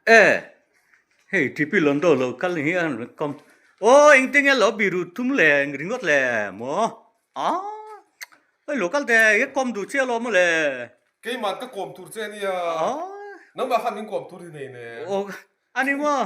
Eh! Hei Tipi lawn dawr lo kal hi an rawn kawm. Aw eng te nge lo biru tum le ringawt le maw? Aw hei lo kal te hi a kawm duh chiah lo maw le? Keimah ka kawm tur che a nia. Aw. Nangmah khan min kawm tur hi nei le. Aw a ni maw?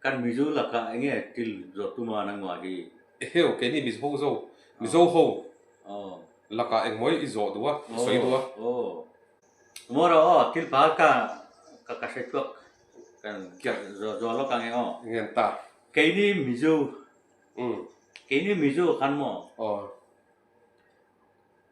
Kan Mizo lakah enge til zawt tuma an angmah hi? Eheu, keini Mizo zo, Mizo ho lakah engmawih i zawh duh a, i sawi duh a. Aw, maw rawh aw, thil pahal kha ka hre chhuak, kan zuar lawk ange aw. Ngen ta. Keini Mizo, keini Mizo khan maw? Aw.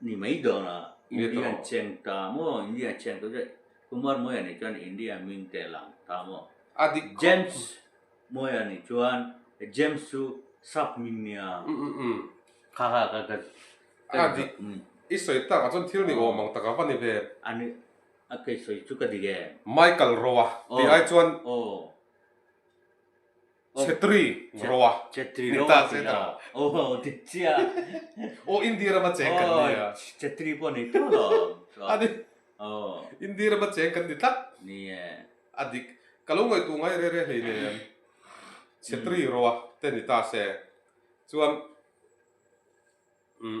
Ni mai dawnah India an cheng ta maw? India an cheng ta zawk. Kumar Moya nih chuan India ming teh lang ta maw? James Moya nih chuan he James chu Sap ming nia. Kha kha ka ka ka dik em. I sawi tak ah chuan thil ni awm ang taka va ni ve. A ni a kei sawi chu ka dik em. Michael Roa ti ai chuan. Aw. Chhetri roa ni ta che ta. Aww ti chiah a. Aww Indiram a cheng kan nia. Aww Chhetri pawh nei tawh lo chuan. A ni. Aww. Indiram a cheng kan ni tlat. Nia. A dik. Ka lo ngaihtu ngai re re hlei nen. Chhetri roa te ni ta se. Chuan umm.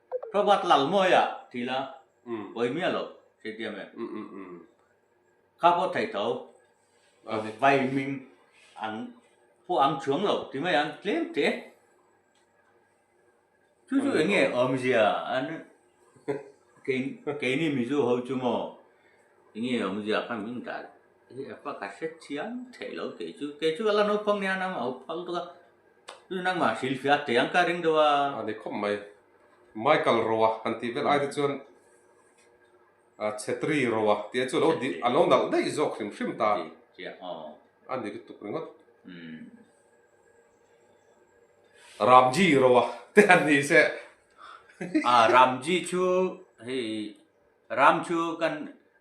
Robert Lalmawia ti la, Vaimia lo si tiam em? Kha pawh thei tho. Vaiming an pawh ang chuang lo ti mai ang tlem teh. Chu chu enge awmzia an keini Mizo ho chu maw enge awmzia kha min ta hi a pakhat hre chiang theih lo kei chu. Kei chu a la naupang nen a awm a, a ho phal duka. Tun nangmah hril hriat te ang ka ring deuh a. A ni khawp mai. Michael Roa kan tih vel aite chuan Chhetri Roa tih chu alo dih alo nalh daih zawk hrim hrim ta. A ni lutuk ringawt. Ramji Roa te an ni se. A Ramji chu hei Ram chu kan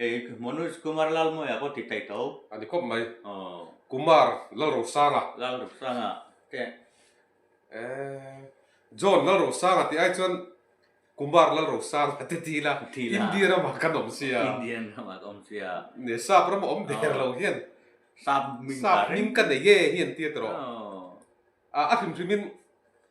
Ei, Manoj Kumar Lalmoya pawh ti taih tawh. A ni khawp mai. Kumar Lalrosanga. Lalrosanga te. Eeh, John Lalrosanga tih ai chuan Kumar Lalrosanga te ti ila. Ti ila. India ram ah kan awm sia. India ram ah kan awm sia. Neh sap ram ah awm der lo hian. Sap hming ka reng. Sap hming ka nei e hi an tir ta rawh. A hrim hrim in.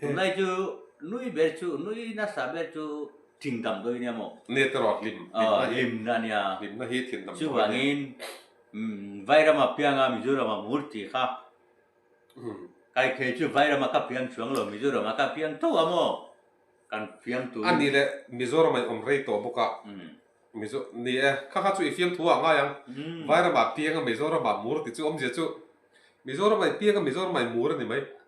Tunlai chu nui ber chu nui nasa ber chu thin tam dawi nia maw? Nge te rawh hlim hlimna ania. Hlimna hi thin tam dawi nia. Chuvangin Vairam apianga Mizoram a hmur tih kha kaikhei chu Vairam a ka fiam chuang lo Mizoram a ka fiam tho a maw? Kan fiam turin. A ni le Mizoram a inawm rei tawh bawk a. Mizo ni e, kha kha chu i fiam thu a ngai ang. Vairam a pianga Mizoram a hmur tih chu awmzia chu Mizoram a pianga Mizoram a hmur a ni mai.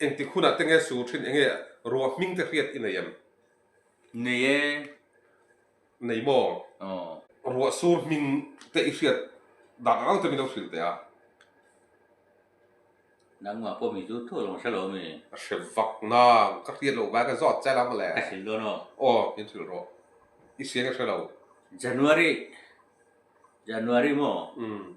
Engtik hunah te nge sur thin? Enge ruah hming te hriat i nei em? Nei e. Nei maw? Aw. Ruah sur hming te i hriat dan ang ang te min lo hrilh teh a. Nangmah pawh mi chu thawhlawm a hre lo mi? A hre vak nang. Ka hriat loh vai ka zawt che lam a le. Ka hrilh dawn aw. Aw, min hrilh rawh. I siang i hre lo. January. January maw? Umm.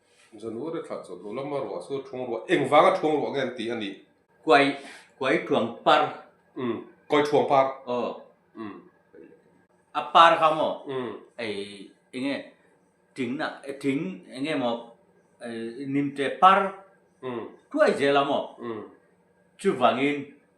January thlah chawlh duh lama ruah chu thung ruah eng vanga thung ruah nge an tih a nih? Kuai, kuai thuang par. Umm, kuai thuang par. Aw. Umm. A par kha maw? Umm. Ei, enge tingna, ting enge maw nimte par thuai zel a maw? Umm. Chuvangin.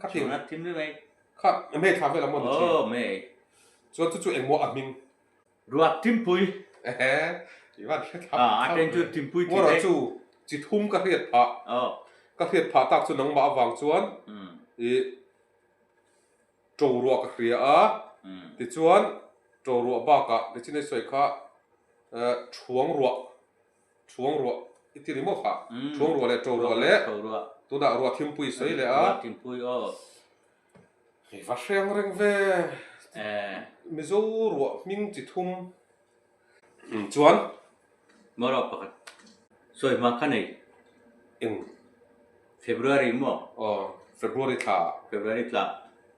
kha thim thim ri mai kha me kha ve la mo ni oh me chuan chu chu engmaw a hming ruat timpui ehe ivan kha thap ah aten chu timpui ti le chu chi thum ka hriat pha oh ka hriat pha tak chu nangma awang chuan i to ruah ka hria a ti chuan to ruah baka le chin ai soi kha thuang ruah Chhuang ruah i ti rimawh kha. Chhuang ruah leh to ruah leh. Tunah ruah thimpui sawi leh a. Hei va hreng reng ve. Mizo ruah hming chi thum chuan. Mawrok pakhat sawi hma kha nei. Eng? February maw? Aw, February thla. February thla.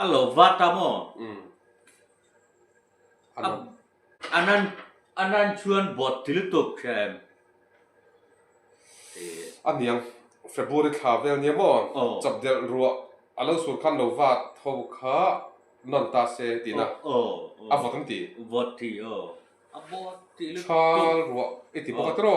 A lo va ta maw? A nan chuan bawt ti lutuk hria em? ti. A niang, February thla vel nia maw? Chap delh ruah a lo sur khan lo va tho kha nawn ta se tiin a a vawt an ti. Chhal ruah i ti bawk a tir aw?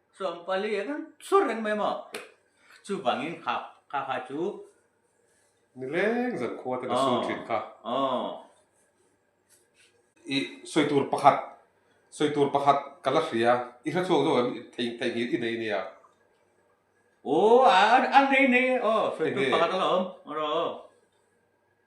Chuan pali a kan chhur reng mai maw? Chuvangin kha kha kha chu. Ni leng zan khua ten a sum thin kha. Aww. I sawi tur pakhat, sawi tur pakhat ka la hria, i hre chhuak zawk em i thei thei ngir i nei nia? Aww a nei nei, aww sawi tur pakhat a la awm, aww.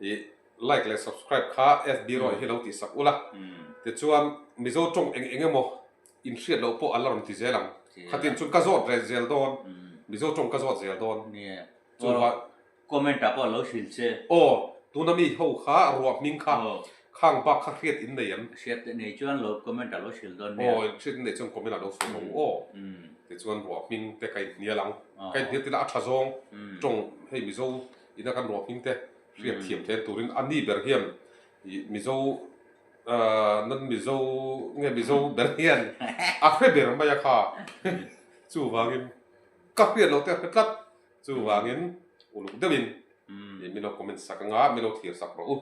I like leh subscribe kha FB erawh i hi lo tih sak ula. Tichuan Mizo tawng eng eng emaw in hriat loh pawh an la rawn ti zel ang. Khatin chuan ka zawt reh zel dawn. Mizo tawng ka zawt zel dawn. Chuvah comment ah pawh lo hrilh che. Aw, tuna mi ho kha ruah hming kha khang bak kha hriat in nei an. Hriat theih nei chuan lo comment ah lo hrilh dawn nia. Aw, hriat in nei chuan comment ah lo sawi lo aw. Tichuan ruah hming te ka in hnial ang. Ka in hnial tila a tha zawng tawng hei Mizo Ina kan ruahming te hriat thiam thleng turin a ni ber hian Mizo nan Mizo nge Mizo ber hian a hre ber mai a kha. Chuvangin ka hriat lo te a hre tlat. Chuvangin uluk deuhin milo comment sak anga milo thlir sak rawh u.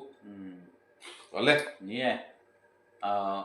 Ka le. Ni e. Ahh.